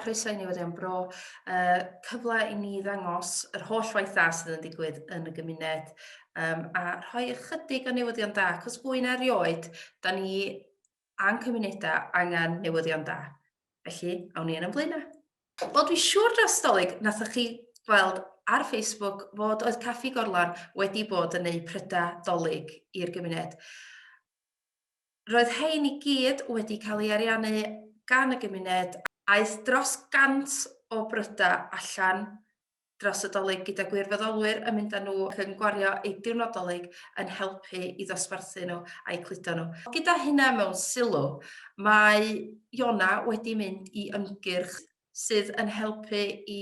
croeso i ni wedi am bro. Uh, cyfle i ni ddangos yr holl waith dda sydd yn digwydd yn y gymuned um, a rhoi ychydig o newyddion da, cos fwy na rioed, da ni a'n cymunedau angen newyddion da. Felly, awn ni yn yn blaenau. Wel, dwi'n siŵr dros Dolig nathoch chi weld ar Facebook fod oedd Caffi Gorlan wedi bod yn neud prydau Dolig i'r gymuned. Roedd hein i gyd wedi cael ei ariannu gan y gymuned. Aeth dros gant o brydau allan dros y Dolig gyda gwirfoddolwyr yn mynd â nhw ac yn gwario eu diwrnod Dolig yn helpu i ddosbarthu nhw a'u cludo nhw. Gyda hynna mewn sylw, mae Iona wedi mynd i ymgyrch sydd yn helpu i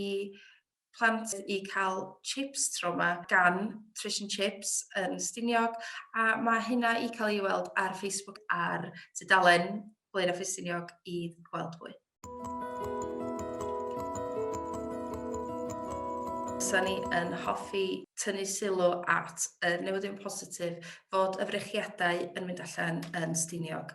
plant i cael chips tro 'ma gan Trish and Chips yn Stiniog a mae hynna i cael ei weld ar Facebook ar tudalen Blaenau Ffestiniog i weld mwy. Sa ni yn hoffi tynnu sylw at y newyddion positif fod y frechiadau yn mynd allan yn Stiniog.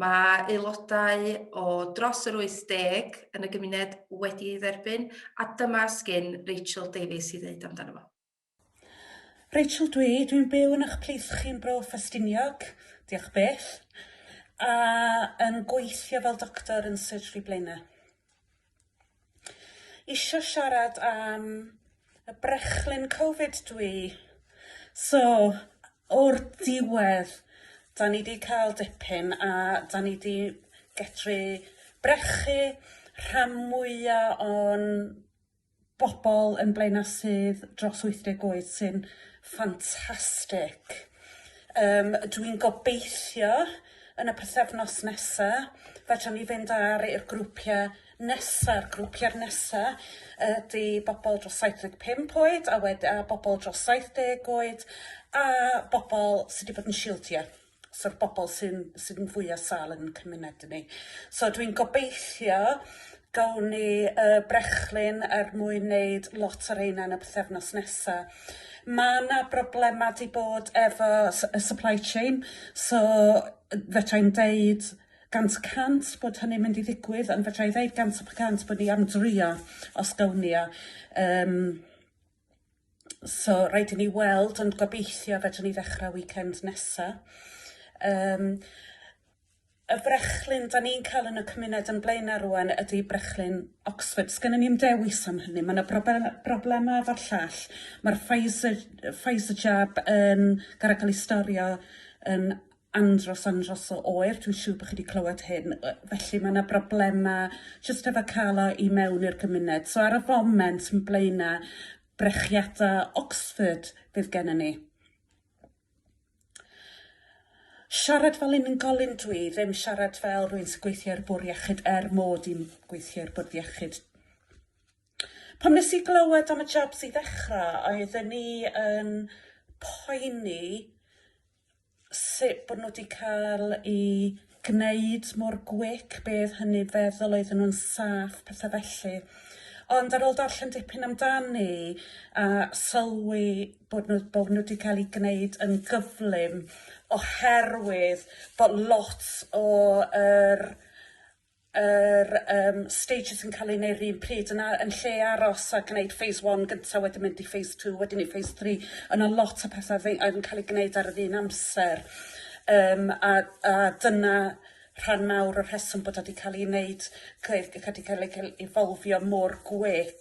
Mae aelodau o dros yr 80 yn y gymuned wedi ei dderbyn a dyma sgyn Rachel Davies i ddeud amdano fo. Rachel dw i, dwi'n byw yn 'ych plith chi yn Bro Ffestiniog, diolch byth, a yn gweithio fel doctor yn Surgery Blaenau. Isio siarad am y brechlyn covid dw i. So, o'r diwedd, 'da ni 'di cael dipyn a 'da ni 'di medru brechu rhan mwya o'n bobl yn Blaenau sydd dros 80 oed sy'n ffantastig. Yym dwi'n gobeithio yn y pythefnos nesa fedrwn ni fynd ar i'r grwpia' nesa'r grwpia'r nesa ydi bobl dros 75 oed a wed- a bobl dros 70 oed a bobl sy 'di bod yn shiwdio. So y bobl sy'n sydd yn fwya' sâl yn ein cymuned ni. So dwi'n gobeithio gawn ni y brechlyn er mwyn neud lot o reina yn y pythefnos nesa'. Ma' 'na broblema' 'di bod efo s- y supply chain so yy fedrai'm deud gant y cant bod hynny'n mynd i ddigwydd ond fedra'i ddeud gant y cant bod ni am drio os gawn ni o yym. So rhaid i ni weld ond gobeithio fedrwn ni ddechrau weekend nesa. Yym y brechlyn 'dan ni'n ca'l yn y cymuned yn Blaena' rŵan ydi brechlyn Oxford. Sgennon ni'm dewis am hynny ma' 'na brobe- broblema efo'r llall ma'r Pfizer yy Pfizer jab yn gor'o' ca'l 'i storio yn andros andros o oer, dwi'n siŵr bod chi 'di clywed hyn, yy felly ma' 'na broblema jyst efo ca'l o i mewn i'r gymuned. So ar y foment m- Blaena' brechiada' Oxford fydd gennon ni. Siarad fel unigolyn dw i, ddim siarad fel rywun sy'n gweithio i'r Bwr' Iechyd er mod i'n gweithio i'r Bwrdd Iechyd. Pam nes i glywed am y jobs i ddechra' oeddwn i yn poeni sut bod nhw 'di cael i gwneud mor gwic, be' oedd hynny feddwl, oedden nhw'n saff, petha felly. Ond ar ôl darllen dipyn amdani a sylwi bod nhw bod nhw 'di cael ei gwneud yn gyflym oherwydd bod lot o'r yr yym stages yn ca'l eu neu' 'r un pryd yna yn lle aros a gneud phase one gynta wedyn mynd i phase two wedyn i phase three o' 'na lot o petha' fy- yn ca'l 'u gneud ar yr un amser yym a a dyna rhan mawr o'r rheswm bod o 'di ca'l 'i neud involfio mor gwlyp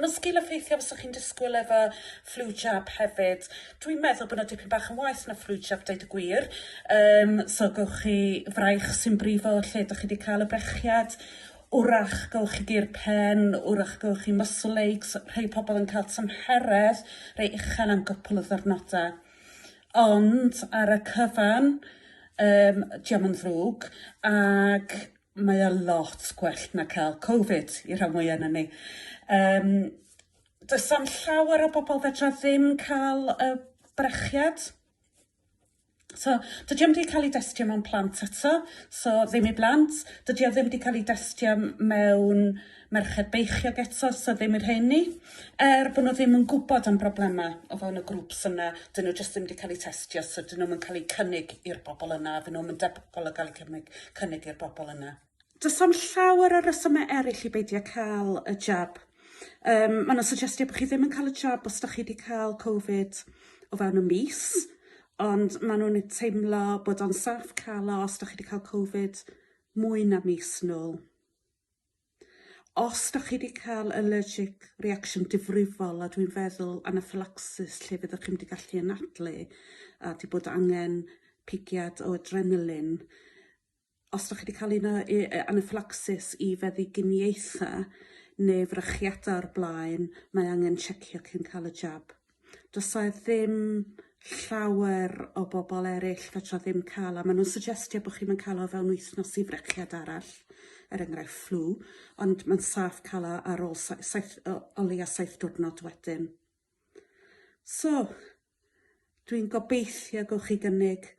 Mae'n sgil effeithio fysa chi'n disgwyl efo flu jab hefyd. Dwi'n meddwl bod 'na dipyn bach yn waeth na flu jab deud y gwir yym so gowch chi fraich sy'n brifo lle dych chi 'di ca'l y brechiad 'w'rach gowch chi gur pen 'w'rach gowch chi muscle aches rhei pobol yn ca'l tymheredd rei uchel am gwpwl o ddiwrnoda. Ond ar y cyfan yym 'di o'm yn ddrwg ag mae o lot gwell na cael Covid i rhan fwya na ni. Yym does am llawer o bobl fedra ddim cael y brechiad. So dydy o'm 'di cael ei destio mewn plant eto so ddim i blant. Dydy o ddim 'di cael ei destio mewn merched beichiog eto so ddim i'r rheini er bo' n'w ddim yn gwbod am broblema o fewn y grŵps yna 'dyn n'w jyst ddim 'di ca'l 'u testio so 'dyn nw'm yn ca'l 'u cynnig i'r bobol yna a fy' nw'm yn debygol o ga'l 'u cymryd cynnig i'r bobol yna. Do's am llawer o resyme eryll i beidio ca'l y jab. Yym ma' 'na syjestiad bo' chi ddim yn ca'l y jab os 'dach chi 'di ca'l covid o fewn y mis ond ma' nw'n yy teimlo bod o'n saff ca'l o os 'dach chi 'di ca'l covid mwy na mis nôl. Os dych chi wedi cael allergic reaction difrifol, a dwi'n feddwl anaphylaxis lle fyddwch chi'm wedi gallu anadlu a wedi bod angen pigiad o adrenaline, os dych chi wedi cael un o yy yy anaphylaxis i feddyginiaethau neu frechiadau o'r blaen, mae angen checio cyn cael y jab. do's 'a ddim llawer o bobol eryll fedra ddim ca'l a ma' nw'n suggestio bo' chi'm yn ca'l o fewn wythnos i frechiad arall er enghraifft fflw ond ma'n saff ca'l o ar ôl sai- saith o o leia' saith diwrnod wedyn. So dwi'n gobeithio gywch chi gynnig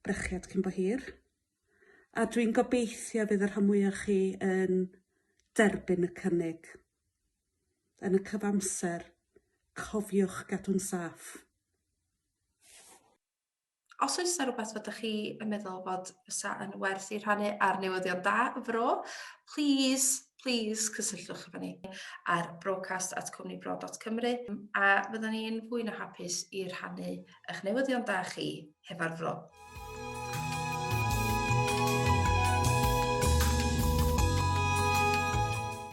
brechiad cyn bo hir. a dwi'n gobeithio fydd y rhan mwy o chi yn derbyn y cynnig. Yn y cyfamser, cofiwch gadw'n saff. Os oes yna rhywbeth fod chi yn meddwl bod fysa yn werth i rhannu ar newyddion da y fro, please, please cysylltwch efo ni ar broadcast at cwmnibro.cymru a fyddwn ni'n fwy na hapus i rhannu Eich newyddion da chi, hefo'r fro.